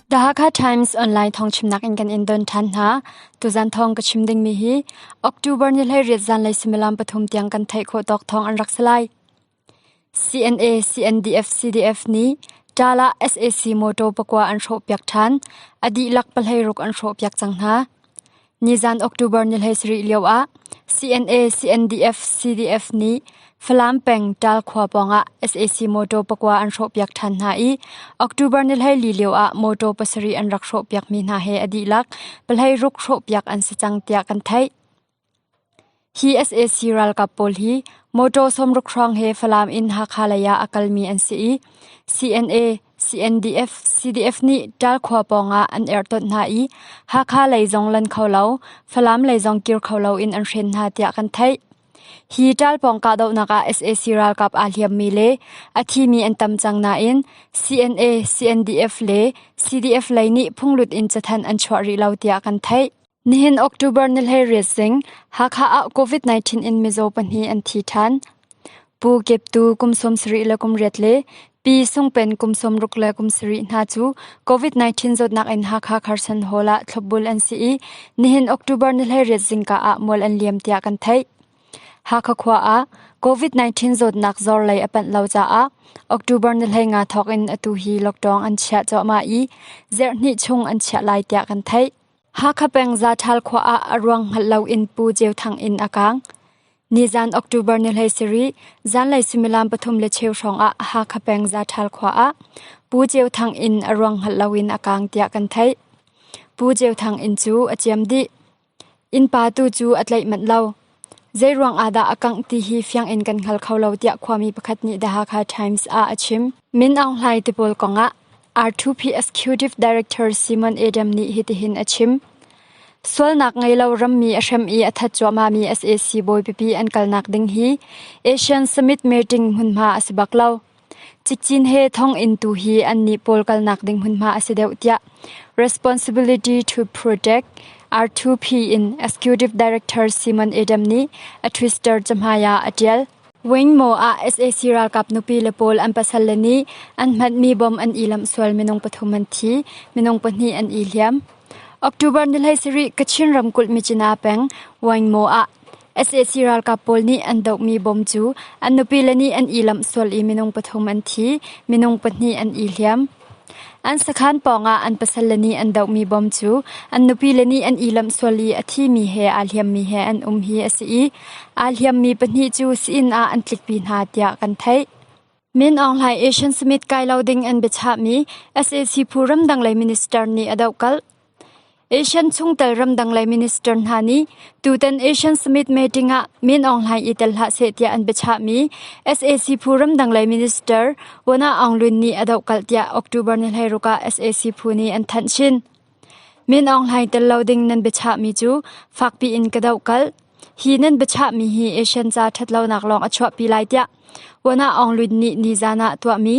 The Hakha Times online thong chimnak in kan in don than hna. Tuzan thong ka chim ding mi hi October ni hlei riat zan lei similam pathum tiang kan thai kho tok thong an rak salai. CNA CNDF CDF ni Tala SAC moto pakwa an ro piak than adi lak palhei ruk an ro piak chang hna. Nizan October ni hleisarih lioah CNA CNDF CDF nih Falam peng Ṭal khua pawngah sac motor pakua an hrawhpiak ṭhan hna i October ni hleili lioah motor pasarih an rak hrawhpiakmi hna he a dihlak pahlei ruk hrawhpiak an si cang tiah kan theih. Hi sac ralkap pawl hi mawṭaw sawmrukhrawng he Falam in Hakha lei ah a kalmi an si i CNA, CNDF, CDF nih Ṭal khua pawng ah an erhtonh hna i Hakha lei zong lan kho lo, Falam lei zong kir kho loin an hren hna tiah kan theih. Hi Ṭal pawng kahdohnak ah sac ralkap aa hliammi le a thimi an tam cang nain CNA, CNDF le CDF lei nih phunglut in cathanh an chuah rih lo tiah kan theih. Nihin October ni hleiriat zing Hakha ah COVID-19 in mizaw pahnih an thi ṭhan. Pu Kep Tu kum sawmsarih le kum riat le Pi Sung Pen kum sawmruk le kum sarih hna cu COVID-19 zawtnak in Hakha Kherson Hall ah thlopbul an si i nihin October ni hleiriat zingka ah mual an liam tiah kan theih. Hakha khua ah COVID-19 zawtnak zor lei a panh lo caah October ni hlei nga thawk in atu hi lockdown an chiah cuahmah i zerhnih chung an chiah lai tiah kan theih. Hakha peng Zathal khua ah a ruang hngalh loin Pu Ceu Thang inn a kaang. Nizan October ni hlei sarih, zanlei sumilam pathum le cheu hrawng ah Hakha peng Zathal khua ah Pu Ceu Thang inn a ruang hngalh loin a kaang tiah kan theih. Pu Ceu Thang inn cu a ciam dih. Innpa tu cu a tlaih manh lo. Zeiruang ah dah a kangh ti hi fiang in kan hngal kho lo tiah khuami pakhat nih The Hakha Times ah a chim. Min Aung Hlaing te pawl kong ah R2P Executive Director Simon Adam nih hitihin a chim. Sualnak ngei lo rammi a hrem i a that cuahmahmi sac bawi pipi an kalnak ding hi Asian Summit meeting hmunhma a si bak lo. Cikcin he thonginn tu hi annih pawl kalnak ding hmunhma a si deuh tiah Responsibility to Protect R2P in Executive Director Simon Adam nih a Twitter cahmai ah a ṭial. Wingmo ah sac ralkap nupi le pawl an pasal le nih an hmatmi bom an ilamh sual minung pathum an thi, minung pahnih an i hliam. October ni hlei sarih Kachin ramkulh Michina peng Wangmo ah sac ralkap pawl nih an dohmi bom cu an nupile nih an ilamh sual i minung pathum an thi, minung pahnih an i hliam. An sakhan pawngah an pasal le nih an dohmi bom cu an nupile nih an ilamh sual i a thimi he aa hliammi he an um hi a si i aa hliammi pahnih cu si-inn ah an tlikpi hna tiah kan theih. Min Aung Hlaing Asian Summit kai lo ding an biachahmi sac phu ramdang lei minister nih a dohkalh. Asian chungtel ramdang lei minister hna nih tutan Asian Summit meeting ah Min Aung Hlaing i tel hlah seh tiah an biachahmi sac phu ramdang lei minister Wana Aung Lwin nih a dohkalh tiah October ni hleiruk ah sac phu nih an thanh chin. Men awng hlai tel lo ding nan biachahmi cu fakpi in ka doh kalh. Hi nan biachahmi hi Asian ca ṭhatlonak lawng a chuahpi lai tiah Wana Aung Lwin nih nizan ah tuahmi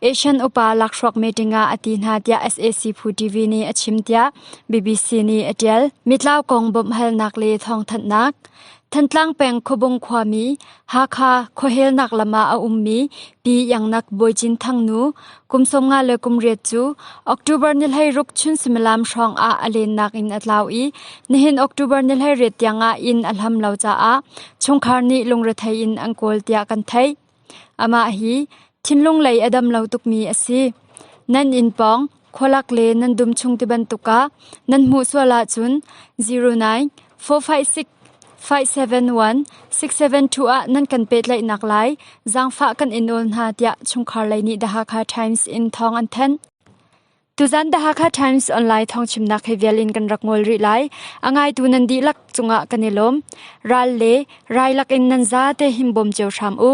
Asian upa lakhruak meeting ah a ti hna tiah SAC Phu TV nih a chim tiah BBC nih a ṭial. Mitlau kong bawmhhalnak le thawngthanhnak Thantlang peng Khuabung khuami Hakha khuahelnak lam ah a ummi Pi Iangnak Bawi Cin Thang nu kum sawm nga le kum riat cu October ni hleiruk chun sumilam hrawng ah a lennak in a tlau i nihin October ni hleiriat tiang ah inn a hlam lo caah chungkhar nih lungrethei in an kawl tiah kan theih. Amah hi thinlung lei a dam lo tukmi a si. Nan inn pawng khualak le nan dum chung tibantuk ah nan hmuh sual ahcun 09 456 571 672 ah nan kan pehtlaihnak lai zaangfah kan in awl hna tiah chungkhar lei nih The Hakha Times in thawng an thanh. Tuzan The Hakha Times online thawngchimnak he vial in kan rak ngol rih lai. A ngaitu nan dihlak cungah kan i lawm. Ral le rai lakin nan za te himbom cio hram u.